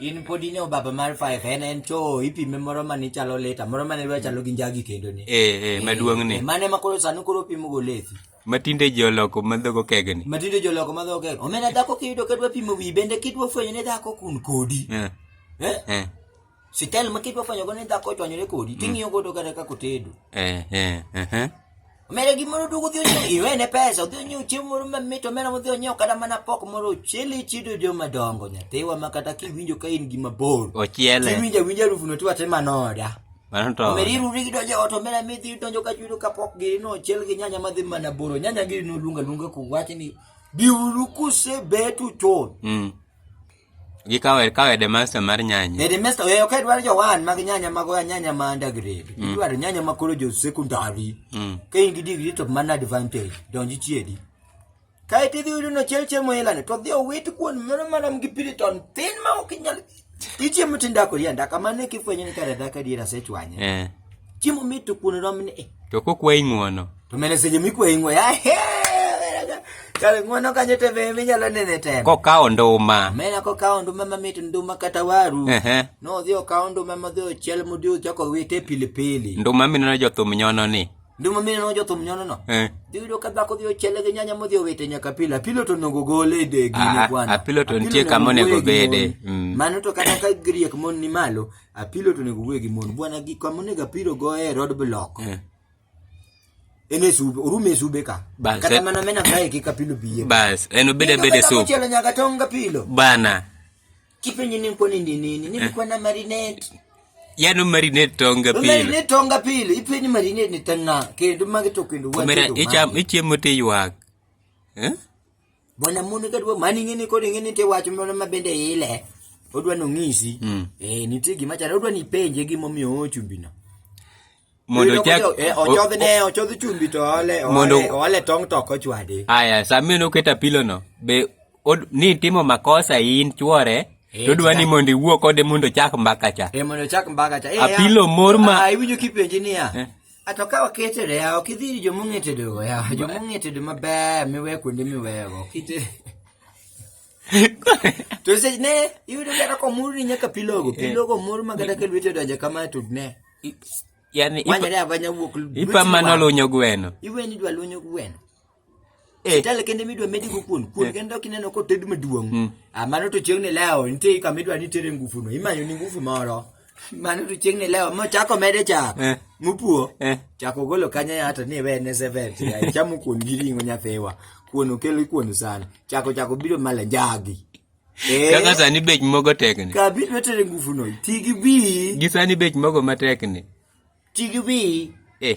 in pod in e obaba mar five en en cho ipime moro mane chalo leta moro mane dwa chalo gi njagi kendo ni eh eh maduong ni mane ma koro sani koro pimo go lethi matinde ji oloko madhogo kegni matinde ji oloko madhogo kegni omena dhako kiyudo ka dwa pimo wi bende kidwa fwenyo ne dhako kun kodi eh eh, eh. sitel ma kidwa fwenyo go ne dhako chwanyore kodi mm. ting'iyo godo kata kako tedo eh eh eh, eh. Omera gimoro duogo odhi onyiew iwene pesa odhi onyiew chiemo moro mamit omera modhi onyiew kata mana pok moro chili chido joma dongo nyathiwa ma kata kiwinjo ka in gi mabor ochiele kiwinjo awinjo harufu no tiwache manoda omera iruri gidonjo ot omera midhi donjo ka chudo kapok giri no ochiel gi nyanya madhi mana boro nyanya giri no luonga luonga kuwache ni biuru kuse betu chon mm. gi kawe kawe de master mar nyanya e de master e okay dwaro jowan mag nyanya mag nyanya ma under grade mm. dwaro nyanya ma koro jo secondary mm. ka in gi degree to man advantage donji chiedi kae ti dhiudu no chel chemo ilane to dhi owit kuon mano mana gi piriton tin ma ok inyal ichiemo tindako yanda kamane kifwenyo ni kare dhaka diera sechwanye eh. chiemo mit to kuon rom ni to kokwayi ng'uono to mene seche mikwayi ng'uono ahe kare ng'uono kanyo to be minyalo nene tena kokawo nduma mena kokawo nduma mamit nduma kata waru nodhi okawo nduma modhi ochiel modhi ochako wite pilipili nduma mineno jothum nyono ni nduma mineno jothum nyono no eh. dhiyudo ka dhako dhi ochiele gi nyanya modhi owite nyaka pilo apilo to onego gole e degine ah, ah, bwana apilo to nitie kama onego bede mm. mano to kata ka griek mon ni malo Apilo to onego wuoye gi mon. Bwana gi kama onego apilo go e road block. Eh. En e sube, orume e sube ka. Bas, Kata eh. mana mena kae kik apilo biye. Bas, en obede abede Kata sub. kuchelo nyaka tong apilo. Bana, Kipenye ni kwa nini nini? Nini kwa na marinate? yano marinate tonga pile. Marinate tonga pile. Ipenye marinate ni tanga. Kendo mage to kendo watu. Kamera, icham, ichiemo tiywak. Eh? Bwana mondo ka dwa mani ng'ini kod ng'ini te wach moro ma bende ile odwa no ng'isi. Mm. Eh nitie gima chalo odwa ni penje gima omiyo o chumbi no. mondo Iyudo chak ko jo- eh, ochodh ne ochodh chumbi to ole Mondo- ole ole tong to kochwade. aya sami noketa pilo no be od- ni timo makosa in chwore Eh, to dwa ni chak. mondo iwuo kode mondo chak mbaka cha Eh mondo chak mbaga cha. Eh, Apilo mor ma- Ah iwinjo kipenje niya. Eh. A to ka ok itedo yawa ok idhi ir joma ong'e tedogo yawa joma ong'e tedo maber miweyo kuonde miweyogo ok itedo to seche ne iyudo kata komur ni nyaka pilogo pilogo mur ma kata ka lwete odonjo kama to ne yani manyore abanya wuok ipa mana lunyo gweno iweni dwa lunyo gweno Eh. Sitale kende midwa medi go kuon. Kuon eh. kende ok ineno ko ted maduong'. Hmm. Ah mano to chieng' ni leo nitie kama idwa ni tere ngufu no. Imanyo ni ngufu moro. Mano to chieng' ni leo mo chako mede chak. Eh. Mupuo. Chako golo kanya ya to ni we ne seven. Chamo kuon gi ringo nyafewa. Kuon okelo kuon sana. Chako chako biro mala jagi. Eh. Kaka sani bech mogo tek ni. Ka biro tere ngufu no. Tigi bi. Gi sani bech mogo matek ni. Tigi bi. Eh.